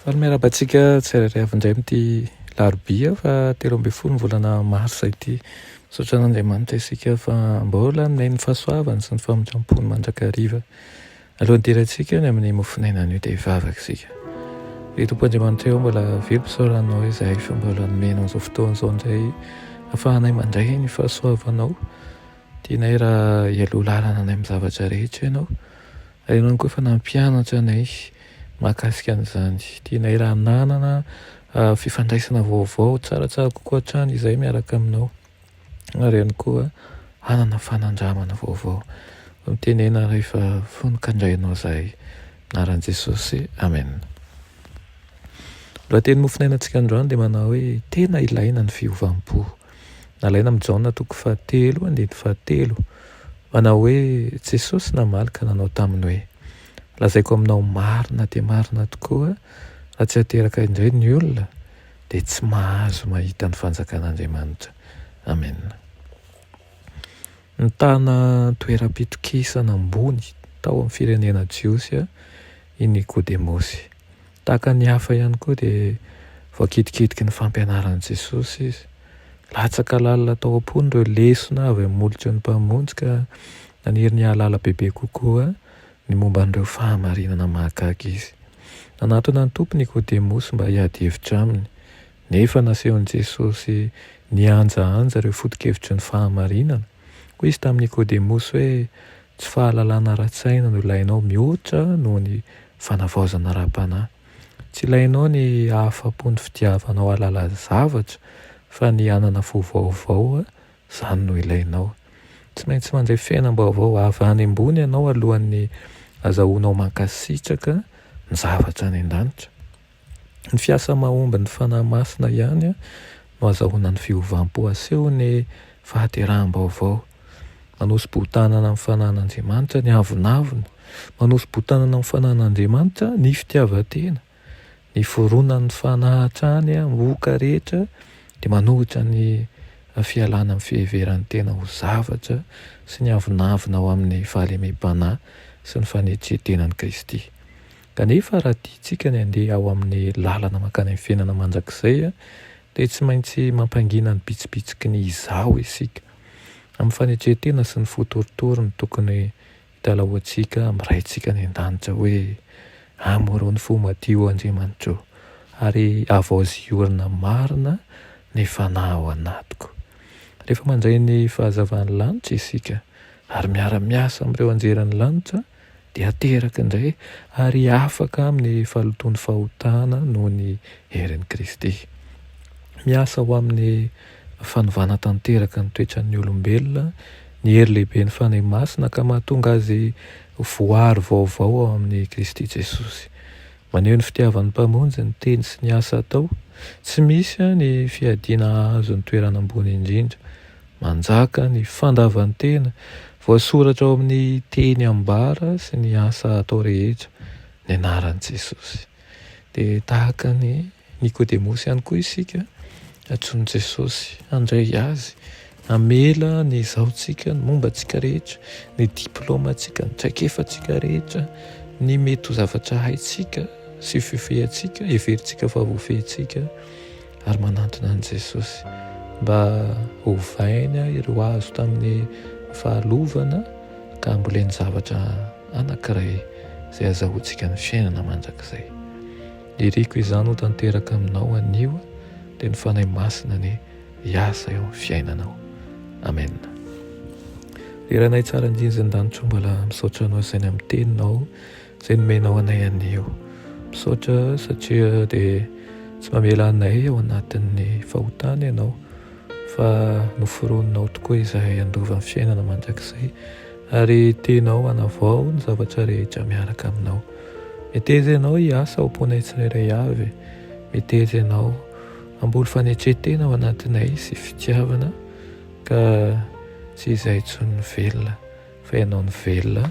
Fa ny miaraba antsika tsirairay avy indray amin'ity larobia fa telo ambin'ny folo ny volana marsa ity. Misaotra an'Andriamanitra isika fa mbola aminay ny fahasoavany sy ny famindram-pony mandrakariva. Alohan'ny hidirantsika ny amin'ny mofonaina anio dia hivavaka isika. Ry Tompo Andriamanitra eo mbola velom pisaoranao izahay fa mbola nomenao izao fotoana izao indray ahafahanay mandray ny fahasoavanao. Tianay raha hialoha lalana anay amin'ny zavatra rehetra ianao. Ianao koa efa nampianatra anay mahakasika an'izany. Tianay raha hanana fifandraisana vaovao tsaratsara kokoa hatrany izahay miaraka aminao, ary ihany koa hanana fanandramana vaovao. Mitenena rehefa fony ka handray anao izahay. Anaran'i Jesosy, Amen. Lohateny mofon'ainantsika androany dia manao hoe, Tena ilaina ny fiovam-po. Nalaina amin'i Jaona toko fahatelo andininy fahatelo, manao hoe, Jesosy namaly ka nanao taminy hoe, Lazaiko aminao marina dia marina tokoa, raha tsy ateraka indray ny olona, dia tsy mahazo mahita ny fanjakan'Andriamanitra. Amena. Nitana toeram-pitokisana ambony tao amin'ny firenena jiosy i Nikodemosy. Tahaka ny hafa ihany koa dia voakidikidiky ny fampianaran'i Jesosy izy. Latsaka lalina tao am-pony ireo lesona avy amin'ny molotra ny Mpamonjy ka naniry ny hahalala bebe kokoa ny momba an'ireo fahamarinana mahagaga izy. Nanatona ny Tompo Nikodemosy mba hiady hevitra aminy. Nefa nasehon'i Jesosy nihanjahanja ireo foto-kevitry ny fahamarinana. Hoy izy tamin'i Nikôdemosy hoe, Tsy fahalalana ara-tsaina no ilainao mihoatra noho ny fanavaozana ara-panahy. Tsy ilainao ny hahafa-po ny fitiavanao hahalala zavatra, fa ny hanana fo vaovao, izany no ilainao. Tsy maintsy mandray fiainam-baovao avy any ambony ianao alohan'ny azahoanao mankasitraka ny zavatra any an-danitra. Ny fiasa mahomby ny Fanahy Masina ihany no azahoana ny fiovam-po asehon'ny fahateraham-baovao. Manosi-bohon-tanana amin'ny Fanahin'Andriamanitra ny avonavona. Manosi-bohon-tanana amin'ny Fanahin'Andriamanitra ny fitiavan-tena. Ny fironan'ny Fanahy hatrany amin'ny oka rehetra dia manohitra ny fialana amin'ny fiheveran'ny tena ho zavatra sy ny avonavona ao amin'ny fahalemem-panahy sy ny fanetren-tenan'i Kristy. Kanefa raha tiantsika ny handeha ao amin'ny lalana mankany amin'ny fiainana mandrakizay, dia tsy maintsy mampangina ny bitsibitsiky ny izaho isika. Amin'ny fanetren-tena sy ny fo torotoro no tokony hitalahoantsika amin'ny Raintsika any An-danitra hoe, Amoro ny fo madio, O Andriamanitro, ary avaozy hiorina marina ny fanahy ao anatiko. Rehefa mandray ny fahazavan'ny lanitra isika, ary miara-miasa amin'ireo anjelin'ny lanitra, dia ateraka indray ary afaka amin'ny fahalotoan'ny fahotana noho ny herin'i Kristy. Miasa ho amin'ny fanovana tanteraka ny toetran'ny olombelona ny hery lehiben'ny Fanahy Masina ka mahatonga azy ho voaaro vaovao ao amin'i Kristy Jesosy. Maneho ny fitiavan'ny Mpamonjy ny teny sy ny asa atao. Tsy misy ny fiadiana hahazo ny toerana ambony indrindra. Manjaka ny fandavan-tena voasoratra ao amin'ny teny ambara sy ny asa atao rehetra ny anaran'i Jesosy. Dia tahaka an'i Nikodemosy ihany koa isika, antsoin'i Jesosy handray Azy, hamela ny izaontsika, ny momba antsika rehetra, ny diplaomantsika, ny traikefantsika rehetra, ny mety ho zavatra haintsika sy fifehy antsika, heverintsika fa voafehintsika. ary manantona an'i Jesosy mba hovainy ireo azo tamin'ny fahalovana ka hamboleny zavatra anankiray izay hazahoantsika ny fiainana mandrakizay. Iriko izany ho tanteraka aminao anio dia ny Fanahy Masina ny hiasa eo amin'ny fiainanao. Amen. Ry Ranay tsara indrindra ny danitra mbola misaotra anao izay namiteny nao Zay nomenao anay anio. Misaotra satria dia tsy mamela anay ao anatin'ny fahotana Ianao fa noforoninao tokoa izahay handova ny fiainana mandrakizay ary tianao hanavao ny zavatra rehetra miaraka aminao. Meteza Ianao hiasa ao am-ponay tsirairay avy. Meteza Ianao hamboly fanetren-tena ao anatinay sy fitiavana ka tsy izay intsony ny velona fa Ianao ny velona.